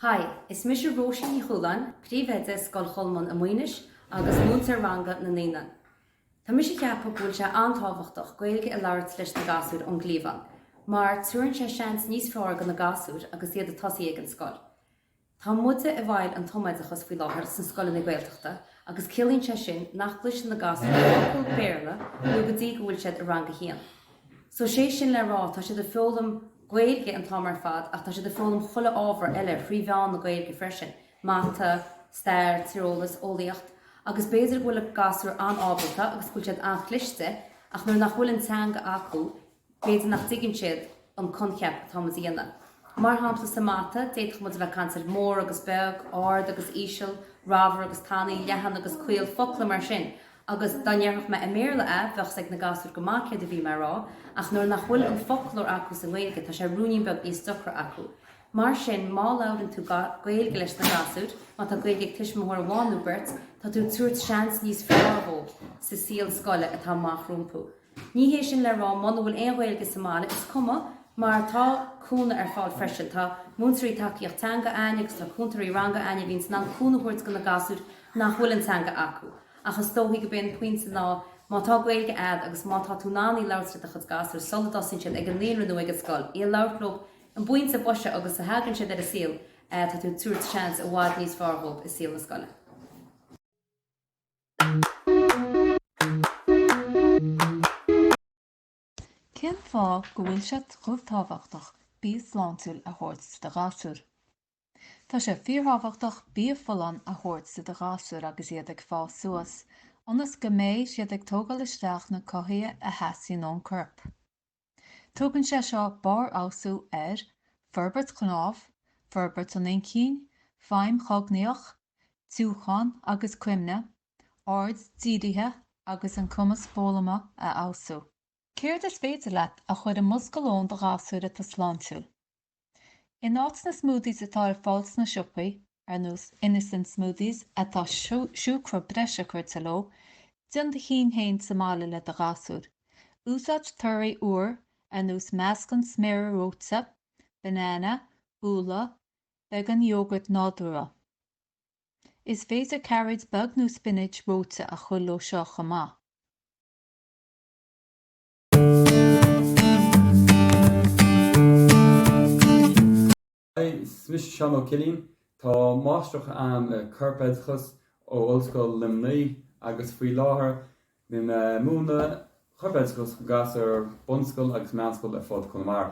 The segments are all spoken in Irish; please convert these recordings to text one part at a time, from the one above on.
Hi, is mise Róisín Ní Chualáin, príomhoide Scoil Cholmáin i Maínis agus múinteoir ranga na naíonáin. Tá mise ag ceapadh go bhfuil sé an-tábhachtach Gaeilge a labhairt leis na gasúir ón gcliabhán mar tugann sé seans níos fearr go na gasúir agus iad ag tosaí ag an scoil. Tá muide i mbun an tumoideachas faoi láthair sna scoileanna Gaeltachta agus ciallaíonn sé sin nach gcloiseann na gasúir focal Béarla nó go dtí go bhfuil siad i rang a haon. So sé sin le rá tá siad ag foghlaim Gaeilge an t-am ar fad ach tá siad ag foghlaim chuile ábhar eile thrí mheán na Gaeilge freisin, mata, stair, tíreolas, eolaíocht agus b'fhéidir go bhfuil na gasúir an-ábalta agus go bhfuil siad an-chliste ach nuair nach bhfuil an teanga acu B'fhéidir nach dtuigeann siad an coincheap atá muid a dhéanamh. Mar shampla sa mata, d'fhéadfadh muid a bheith ag caint ar mór agus beag, ard agus íseal, ramhar agus tanaí, leathan agus caol, focla mar sin, agus dá ndéarfadh mé i mBéarla é, bheadh 's ag na gasúir go maith céard a bhí mé a rá, ach nuair nach bhfuil an foclóir acu sa nGaeilge, tá sé ruainnín beag níos deacra acu. Mar sin, má labhrann tú Gaeilge leis na gasúir, má tá Gaeilge ag tuismitheoir amháin nó beirt, tá tú ag tabhairt seans níos fearr dhóibh sa saol scoile atá amach rompu. Ní hé sin le rá muna bhfuil aon Ghaeilge sa mbaile, is cuma, mar tá cúnamh ar fáil freisin. Tá múinteoirí tacaíocht teanga ainn agus tá cúntóirí ranga ainn a bhíonns in ann cúnamh a thabhairt go na gasúir nach bhfuil an teanga acu. Ach is dóigh gob é an pointe ná má tá Gaeilge agat agus má tá tú in ann í labhairt le do chuid gasúir sula dtosaíonn siad ag an naíonra nó ag an scoil, í a labhairt leo ar an bpointe boise agus a thagann siad ar an saol tá tú ag tabhairt seans i bhfad níos fearr dhóibh i saol na scoile. Cén fáth go bhfuil sé chomh tábhachtach bia sláintiúil a thabhairt do ghasúir? Tá sé fíorthábhachtach bia folláin a thabhairt do do ghasúr agus iad ag fás suas, ionas go mbeidh siad ag tógáil isteach na cothaithe a theastaíonn ón corp. Tugann sé seo barrfheabhsú ar forbairt chnámh, forbairt an inchinn, feidhm chognaíoch, díriúchán agus cuimhne, aird dírithe agus an cumas foghlama a fheabhsú. Céard is féidir leat a chuir i mbosca lóin do ghasúr atá sláintiúil? In áit na smoothies atá ar fáil sna siopaí, ar nós Innocent Smoothies, atá siúcra breise curtha leo, déan do chinn féin sa mbaile le do ghasúr. Úsáid torthaí úra, ar nós meascán sméara reoite, banana, úlla, beagán iógart nádúrtha. Is féidir cairéid beag nó spinach reoite a chuir leo seo chomh maith. Hi, is mise Seán Ó Cillín. Tá máistreacht a'am i gCorpoideachas ó Ollscoil Luimnigh agus faoi láthair bím ag múineadh Corpoideachas go gasúir bunscoile agus meánscoile ar fud Conamara.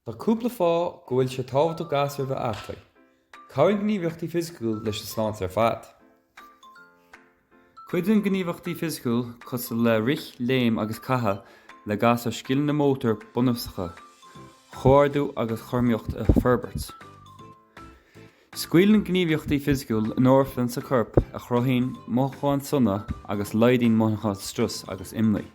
Tá cúpla fáth go bhfuil sé tábhachtach gasúir a bheith aclaí. Cabhraíonn gníomhaíochtaí fisiciúil leis an sláinte ar fad. Cuidíonn gníomhaíochtaí fisiciúil cosúil le rith, léim agus caitheamh le gasúir scileanna mótair bunúsacha, comhordú agus cothromaíocht a fhorbairt. Scaoileann gníomhaíochtaí fisiciúil endorphins sa corp a chruthaíonn mothúcháin sona agus laghdaíonn mothúcháin struis agus imní.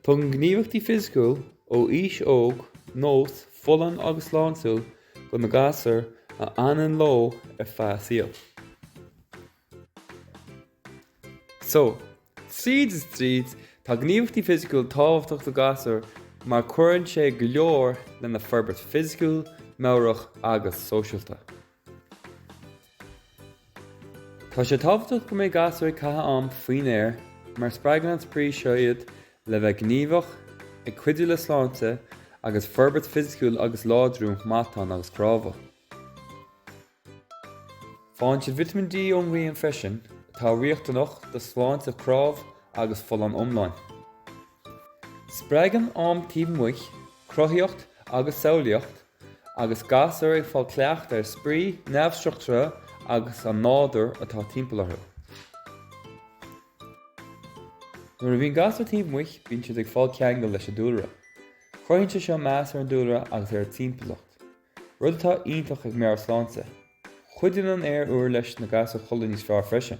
Tugann gníomhaíochtaí fisiciúil ó aois óg, nós folláin agus sláintiúil go na gasúir a fhanann leo ar feadh a saoil. So, tríd is tríd, tá gníomhaíochtaí fisiciúil tábhachtach do ghasúir mar cuireann sé go leor lena forbairt fisiciúil, meabhrach agus sóisialta. Tá sé tábhachtach go mbeidh gasúir ag caitheamh am faoin aer mar spreagann an spraoi seo iad le bheith gníomhach, ag cuidiú le sláinte agus forbairt fisiciúil agus láidriú matán agus cnámha. Faigheann siad Vitamin D ón ngrian freisin, atá riachtanach do shláinte cnámh agus folláine iomlán. Spreagann am taobh amuigh cruthaíocht agus samhlaíocht. Agus gasúir ag fáil cleachtadh ar spraoi neamhstruchtúrtha agus an nádúr atá timpeall orthu. Nuair a bhíonn gasúir taobh amuigh, bíonn siad ag fáil ceangal leis an dúlra. Cruthaíonn sé seo meas ar an dúlra agus ar an timpeallacht, rud atá iontach ag meabhairshláinte. Cuidíonn an aer úr leis na gasúir codladh níos fearr freisin.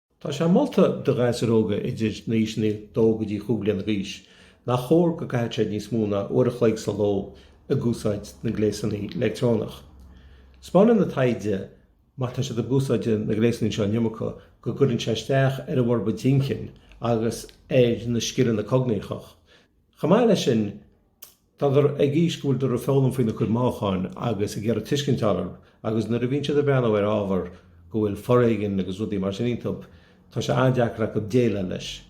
Tá sé molta do ghasúir óga idir na haoiseanna 2 go dtí 5 bliana d'aois nach chóir go gcaithfidh siad níos mó ná uair a chloig sa ló ag úsáid na gléasannaí leictreonach. Spáineann an taighde má tá siad ag úsáid na gléasannaí seo an iomarca go gcuireann sé isteach ar a bhforbairt intinn agus ar na scileanna cognaíochach. Chomh maith leis sin, Tá dar ag aois go bhfuil dar ag foghlaim faoina cuid mothúcháin agus ag iarraidh tuiscint a fháil orthub agus nuair a bhíonn siad ag breathnú ar ábhar go bhfuil foréigean agus rudaí mar sin iontub, tá sé an-deacair acu déileáil leis.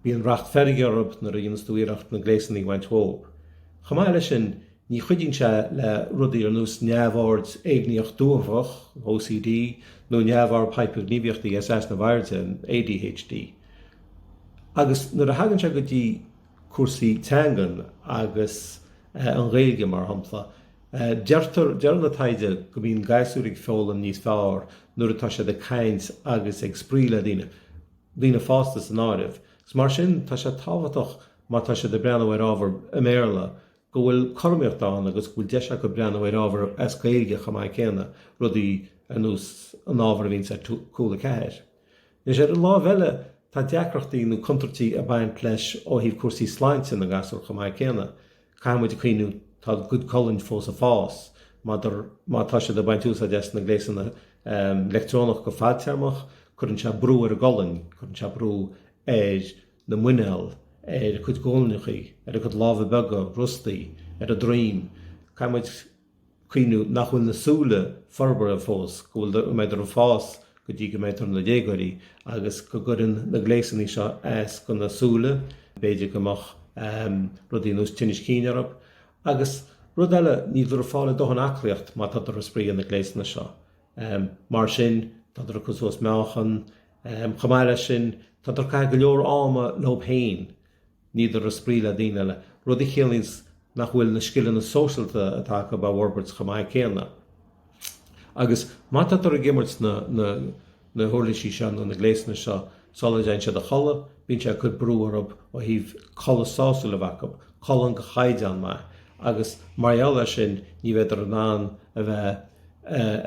Bíonn racht feirge orthub nuair a dhéanas tú iarracht na gléasannaí a bhaint dhíob. Chomh maith le sin, ní chuidíonn sé le rudaí ar nós neamhord éigníoch dúghabhálach, OCD, nó neamhord hipirghníomhaíochta easnamh airde, ADHD. Agus nuair a thagann sé go dtí. cúrsaí teangan agus an Ghaeilge mar shampla. Deireann an taighde go mbíonn gasúir ag foghlaim níos fearr nuair atá siad ag caint agus ag spraoi le daoine, daoine fásta san áireamh. Is mar sin tá sé tábhachtach má tá siad ag breathnú ar ábhar i mBéarla go bhfuil cothromaíocht ann agus go bhfuil deis acu breathnú ar ábhar as Gaeilge chomh maith céanna, rudaí ar nós an ábhar a bhíonns ar Cúla 4. Anois, ar an láimh eile, tá deacrachtaí nó contúirtí ag baint leis ó thaobh cúrsaí sláinte na ngasúr chomh maith céanna. Caithfidh muid cuimhniú, tá a gcuid colainn fós ag fás, má tá siad ag baint úsáid as na gléasanna leictreonach go fadtéarmach, cuireann sé brú ar a gcolainn, cuireann sé brú ar na muineál, ar a gcuid guailneachaí, ar a gcuid lámha beaga, rostaí, ar a droim. Caithfidh muid. cuimhniú nach bhfuil na súile forbartha fós, go bhfuil, go mbeidar ag fás go dtí go mbeidar ina ndéagóirí agus go gcuireann na gléasanna seo as go na súile, b'fhéidir go mbeadh ehm rudaí ar nós tinnis cinn orthub agus rud eile níldar ag fáil a ndóthain aclaíocht má tádar ag spraoi ar na gléasanna seo. Ehm mar sin tádar ag cur suas meáchan, ehm chomh maith leis sin tádar ag caitheamh go leor ama leob fhéin, Níldar ag spraoi le daoine eile, rud a chiallaíonns nach bhfuil na scileanna sóisialta atá acub á bhforbairt chomh maith céanna. Agus má tádar ag imirt na huirlisí seo nó na gléasanna seo sula dtéann siad a chodladh, bíonn sé ag cur brú orthub ó thaobh codladh sásúil a bheith acub, codladh de chaighdeán maith. Agus mar gheall air sin, ní bheidar in ann a bheith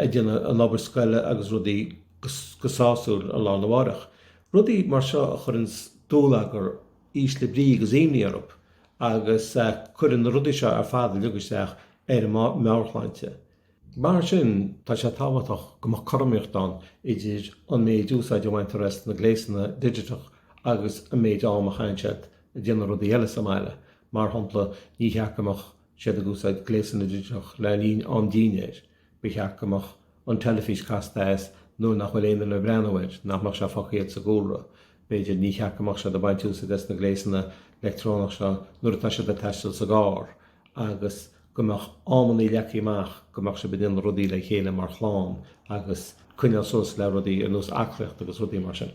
ag déanamh an obair scoile agus rudaí go sásúil an lá arna mhárach. Rudaí mar seo a chuireanns dúlagar, ísle brí agus imní orthub agus cuireann na rudaí seo ar fad uilig isteach ar an meabharshláinte. Mar sin tá sé tábhachtach go mbeadh cothromaíocht ann idir an méid úsáid a bhaintear as na gléasanna digiteach agus an méid am a chaitheann siad ag déanamh rudaí eile sa mbaile. Mar shompla, ní cheart go mbeadh siad ag úsáid gléasanna digiteach le linn am dinnéir. Ba cheart go mbeadh an teilifís casta as nuair nach bhfuil aon duine ag breathnú air, nach mbeadh sé fágtha air sa gcúlra, b'fhéidir, ní cheart go mbeadh siad ag baint úsáid as na gléasanna leictreonach seo nuair atá siad ag taisteal sa gcarr agus go mbeadh amannaí leagtha amach go mbeadh siad ag déanamh rudaí le chéile mar chlann agus coinneáil suas le rudaí ar nós aclaíocht agus rudaí mar sin.